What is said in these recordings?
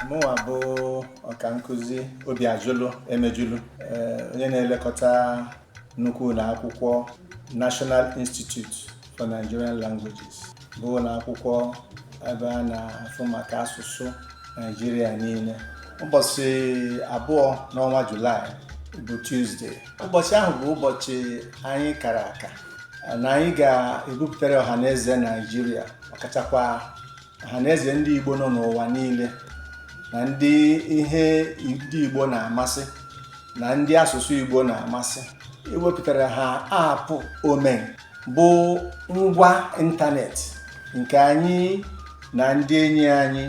mụnwa bụ ọka nkụzi Obiajụlụ Emejulu onye na-elekọta nnukwu ụlọ akwụkwọ National Institute for Nigerian Languages bụ ụlọ akwụkwọ ebe a na-afụ maka asụsụ Naijiria niile ụbọchị abụọ n'ọnwa Julaị bụ Tuesday ụbọchị ahụ bụ ụbọchị anyị kara aka na anyị ga-ebupụtara ọha na eze Naijiria ọkachakwa ha na eze ndị Igbo nọ n'ụwa niile na ndị ihe ndị Igbo na-amasị na ndị asụsụ Igbo na-amasị iwepụtara ha apụ Omenka bụ ngwa ịntanetị nke anyị na ndị enyi anyị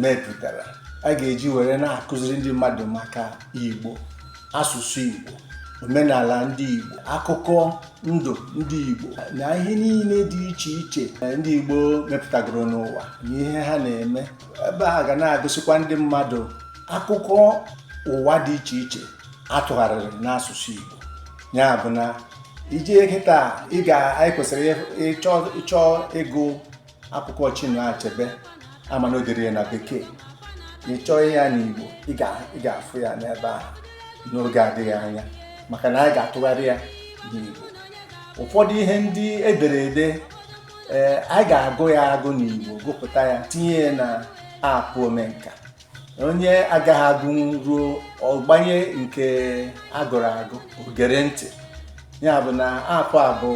mepụtara a ga-eji were na-akụziri ndị mmadụ maka Igbo asụsụ Igbo omenala ndị Igbo akụkọ ndụ ndị Igbo na ihe niile dị iche iche ndị Igbo mepụtagoro n'ụwa na ihe ha na-eme ebe a ga na-egosikwa ndị mmadụ akụkọ ụwa dị iche iche a tụgharịrị n'asụsụ Igbo ya bụ na i jee kịta ị ga anyị kwesịrị ị chọọ ịgụ akwụkwọ Chinua Achebe a ma na o dere ya na bekee ị chọọ ya n'Igbo ị ga-afụ ya n'ebe ahụ n'oge adịghị anya maka na anyị ga-atụgharị ya n'Igbo ụfọdụ ihe ndị e dere ede ee eh, anyị ga-agụ ya agụ n'Igbo gụpụta ya tinye ya na aapụ Omenka onye agaghị agụ ruo ọ gbanye nke a gụrụ agụ o gere ntị ya bụ na apụ a bụ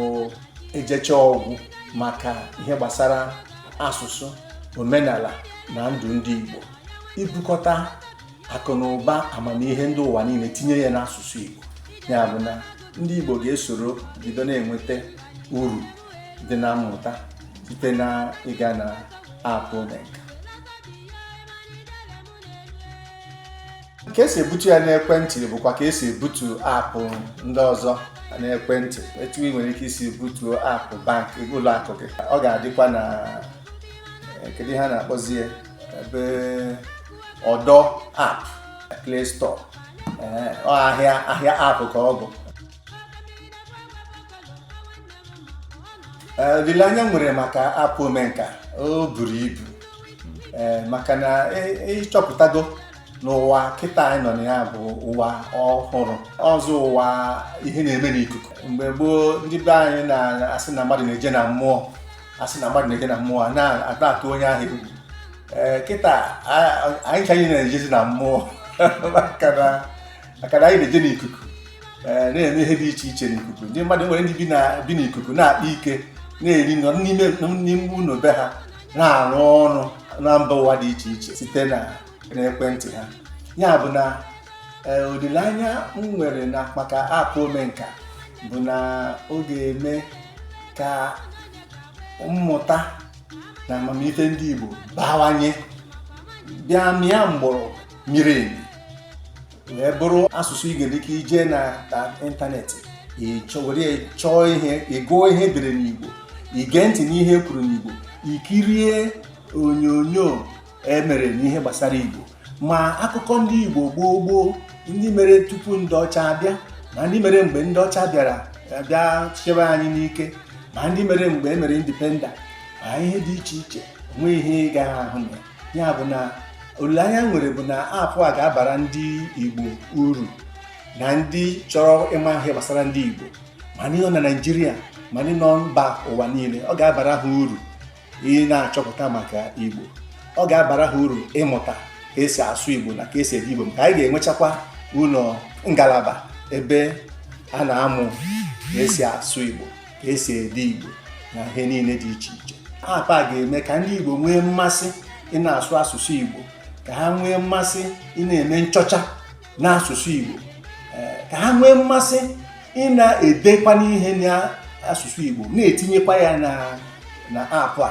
ejechaa ọ gwụ maka ihe gbasara asụsụ omenala na ndụ ndị Igbo ibukọta akụ na ụba amamihe ndị ụwa niile tinye ya n'asụsụ Igbo ya bụ na ndị Igbo ga-esoro bido na-enweta uru dị na mmụta site na ịga na apụ Omenka ka e si ebutu ya n'ekwentị bụkwa ka e si ebutu apụ ndị ọzọ n'ekwentị etu i nwere ike isi butuo apụ bank ụlọ akụ gị ọ ga-adịkwa na eh, kedu ihe a na-akpọzi ebe ọdọ app play store eh, ahịa ahịa app ka ọ bụ Eh, olileanya m nwere maka apụ Omenka o buru ibu eh, maka na ị chọpụtago na ụwa kịta anyị nọ na ya bụ ụwa ọhụrụ ọzọ ụwa ihe na-eme n'ikuku mgbe gboo ndị be anyị na-asị na mmadụ na-eje na mmụọ a sị na mmadụ na-eje na mmụọ a na-atụ onye ahụ egwu eh, kịta anyị ncha na-ejezi na mmụọ maka na maka na anyị na-eje n'ikuku eh, na-eme ihe dị iche iche n'ikuku ndị mmadụ nwere ndị bi n'ikuku na-akpa ike na-eri nọ n'ime ụlọ be ha na-arụ ọrụ na mba ụwa dị iche iche site na ekwentị ha ya bụ na eh, olileanya m nwere na maka aapụ Omenka bụ na ọ ga-eme ka mmụta na amamife ndị Igbo bawanye bịa mịa mgbọrọgwụ miri emi wee bụrụ asụsụ ị ga-enwe ike ije na ịntanetị were ya chọọ ihe ịgụọ ihe e dere n'Igbo ige ntị n'ihe e kwuru n'Igbo ikirie onyonyo e mere n'ihe gbasara Igbo ma akụkọ ndị Igbo gboo gboo ndị mere tupu ndị ọcha abịa ma ndị mere mgbe ndị ọcha bịara bịa chịwa anyị n'ike ma ndị mere mgbe e mere indipenda ma ihe dị iche iche o nwe ihe ị gaghị ahụ na ya bụ na olileanya m nwere bụ na aapụ a ga-abara ndị Igbo uru na ndị chọrọ ịma ihe gbasara ndị Igbo ma ndị nọ na Naịjirịa ma ndị nọ mba ụwa niile ọ ga-abara ha uru ị na-achọpụta maka Igbo ọ ga-abara ha uru ịmụta ka esi asụ Igbo na ka esi ede Igbo maka anyị ga-enwechakwa ụlọ ngalaba ebe a na-amụ ka esi asụ Igbo ka esi ede Igbo na ihe niile dị iche iche aapụ a ga-eme ka ndị Igbo nwee mmasị ị na-asụ asụsụ Igbo ka ha nwee mmasị ị na-eme nchọcha n'asụsụ Igbo eh, ka ha nwee mmasị ị na-edekwanụ ihe n'asụsụ Igbo na-etinyekwa ya na aapụ a